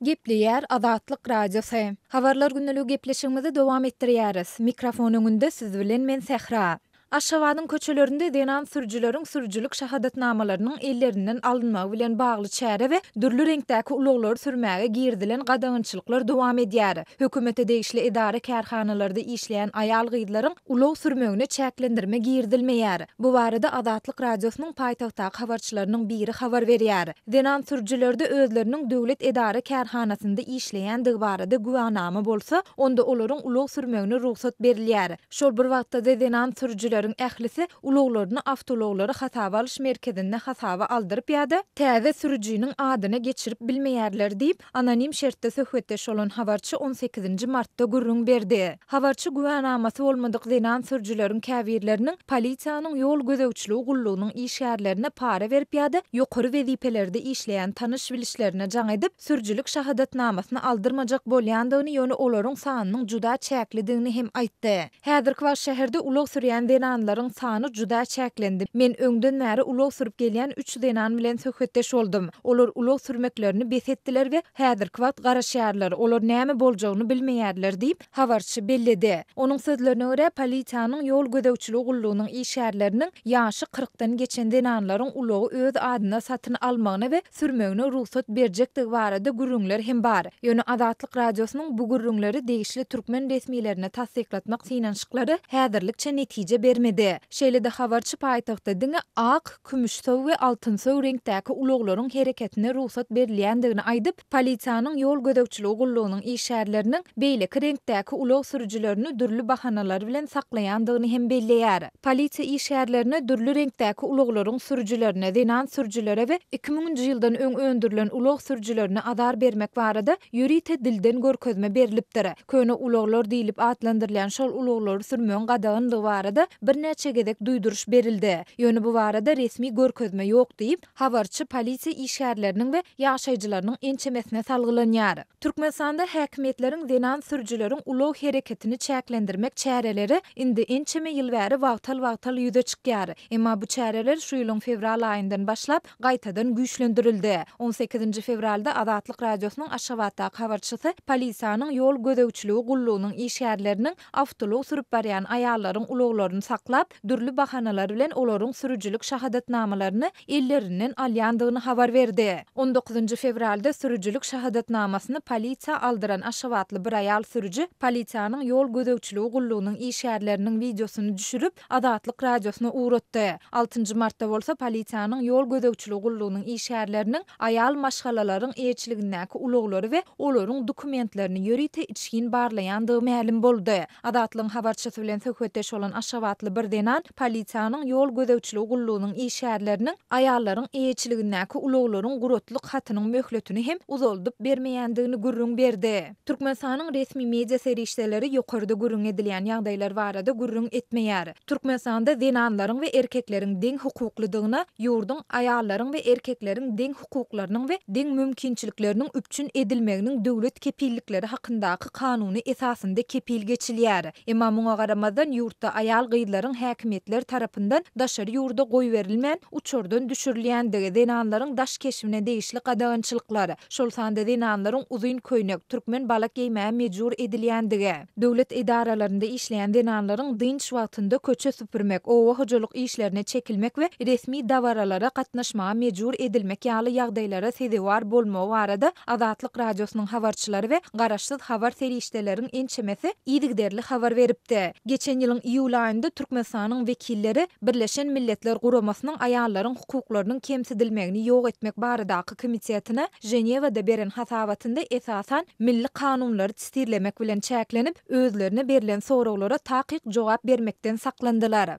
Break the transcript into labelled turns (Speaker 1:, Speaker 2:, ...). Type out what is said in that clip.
Speaker 1: Gepleýär Azatlyk Radiosy. Habarlar gündelige gepleşigimizi dowam etdirýäris. Mikrofon öňünde siz bilen men Sähra. Aşgabadyň köçelerinde zenan sürüjileriň sürüjilik şahadatnamalarynyň ellerinden alynmagy bilen bagly çäre we dürli reňkdäki ulaglary sürmäge girizilen gadagançylyklar dowam edýär. Hökümete degişli edara-kärhanalarda işleýän aýal-gyzlaryň ulag sürmegine çäklendirme girizilmeýär. Bu barada Azatlyk Radiosynyň paýtagtdaky habarçylarynyň biri habar berýär. Zenan sürüjilerde özleriniň döwlet edara-kärhanasynda işleýändigi barada güwänama bolsa, onda olaryň ulag sürmegine rugsat berilýär. Şol bir wagtda-da zenan sürüjileriň ählisi ulaglaryny awtoulaglary hasaba alyş merkezinde hasaba aldyryp ýa-da täze sürüjiniň adyna geçirip bilmeýärler diýip, Anonim şertde söhbetdeş bolan habarçy on sekizinji martda gürrüň berdi. Habarçy güwänamasy bolmadyk zenan sürüjileriň käbirleriniň polisiýanyň ýol gözegçiligi gullugynyň işgärlerine para berip ýa-da ýokary wezipelerde işleýän tanyş-bilişlerine jaň edip, sürüjilik şahadatnamasyny aldyrmajak bolýandygyny, ýöne olaryň sanynyň juda çäklidigini hem aýtdy. Häzirki wagt şäherde ulag sürýän zenanlaryň sany juda çäklendi. Men öňden bäri ulag sürüp gelýän üç zenan bilen söhbetdeş boldum. Olar ulag sürmeklerini bes etdiler we häzirki wagt garaşýarlar, olar näme boljagyny bilmeýärler diýip, habarçy belledi. Onuň sözlerine görä, polisiýanyň ýol gözegçiligi gullugynyň işgärleriniň ýaşy kyrkdan geçen zenanlaryň ulagy öz adyna satyn almagyna we sürmegine rugsat berjekdigi barada gürrüňler hem bar. Ýöne Azatlyk Radiosynyň bu gürrüňleri degişli türkmen resmilerine tassyklatmak synanyşyklary häzirlikçe netije bermedi. Şeýle-de habarçy paýtagtda diňe ak, kümüşsow we altynsow reňkdäki ulaglaryň hereketine rugsat berilýändigini aýdyp, polisiýanyň ýol gözegçiligi gullugynyň işgärleriniň beýleki reňkdäki ulag sürüjilerini dürli bahanalar bilen saklaýandygyny hem belleýär. Polisiýa işgärlerine dürli reňkdäki ulaglaryň sürüjilerine, zenan sürüjilere we iki müňünji ýyldan öň öndürilen ulag sürüjilerine azar bermek barada ýörite dilden görkezme berlipdir. Köne ulaglar diýlip atlandyrylýan şol ulaglary sürmegiň gadagandygy barada birnäçe gezek duýduryş berildi. Ýöne bu barada resmi görkezme ýok diýip, Habarçy polisiýa işgärleriniň we ýaşaýjylarynyň ençemesine salgylanýar. Türkmenistanda häkimiýetleriň zenan sürüjileriň ulag hereketini çäklendirmek çäreleri indi ençeme ýyl bäri wagtal-wagtal ýüze çykýar. Emma bu çäreler şu ýylyň fewral aýyndan başlap, gaýtadan güýçlendirildi. On sekizinji fewralda Azatlyk Radiosynyň Aşgabatdaky habarçysy polisiýanyň ýol gözegçiligi gullugynyň işgärleriniň Awtoulag sürüp barýan aýallaryň ulaglaryny saklap, dürli bahanalar bilen olaryň sürüjilik şahadatnamalaryny ellerinden alýandygyny habar berdi. On dokuzynjy fewralda sürüjilik şahadatnamasyny polisiýa aldyran aşgabatly bir aýal sürüji polisiýanyň ýol gözegçiligi gullugynyň işgärleriniň wideosyny düşürip, Azatlyk Radiosyna ugratdy. Altynjy martda bolsa polisiýanyň ýol gözegçiligi gullugynyň işgärleriniň Aýal maşgalalaryň eýeçiligindäki ulaglary we olaryň dokumentlerini ýörite içgin barlaýandygy mälim boldy. Azatlygyň habarçysy bilen söhbetdeş bolan aşgabatly bir zenan polisiýanyň ýol gözegçiligi gullugynyň işgärleriniň aýallaryň eýeçiligindäki ulaglaryň guratlyk hatynyň möhletini hem uzaldyp bermeýändigini gürrüň berdi. Türkmenistanyň resmi media serişdeleri ýokarda gürrüň edilýän ýagdaýlar barada gürrüň etmeýär. Türkmenistanda zenanlaryň we erkekleriň deň hukuklydygyna, ýurduň aýallaryň we erkekleriň deň hukuklarynyň we deň mümkinçilikleriniň üpjün edilmeginiň döwlet kepillikleri hakyndaky kanuny esasynda kepil geçilýär. Emma muňa garamazdan, ýurtda aýal-gyzlaryň häkimiýetler tarapyndan daşary ýurda goýberilmän, uçardan düşürilýändigi, zenanlaryň daş keşbine degişli gadagançylyklar, şol sanda zenanlaryň uzyn köýnek, türkmen balak geýmäge mejbur edilýändigi, döwlet edaralarynda işleýän zenanlaryň dynç wagtynda köçe süpürmek, oba hojalyk işlerine çekilmek we resmi dabaralara gatnaşmaga mejbur edilmek ýaly ýagdaýlara sezewar bolmagy barada Azatlyk Radiosynyň habarçylary we garaşsyz habar serişdeleriň ençemesi yzygiderli habar beripdi. Geçen ýylyň iýul aýynda Türkmenistanyň wekilleri Birleşen Milletler Guramasynyň aýallaryň hukuklarynyň kemsidilmegini ýok etmek baradaky komitetine Ženewada beren hasabatynda esasan milli kanunlary tisirlemek bilen çäklenip, özlerine berlen soraglara takyk jogap bermekden saklandylar.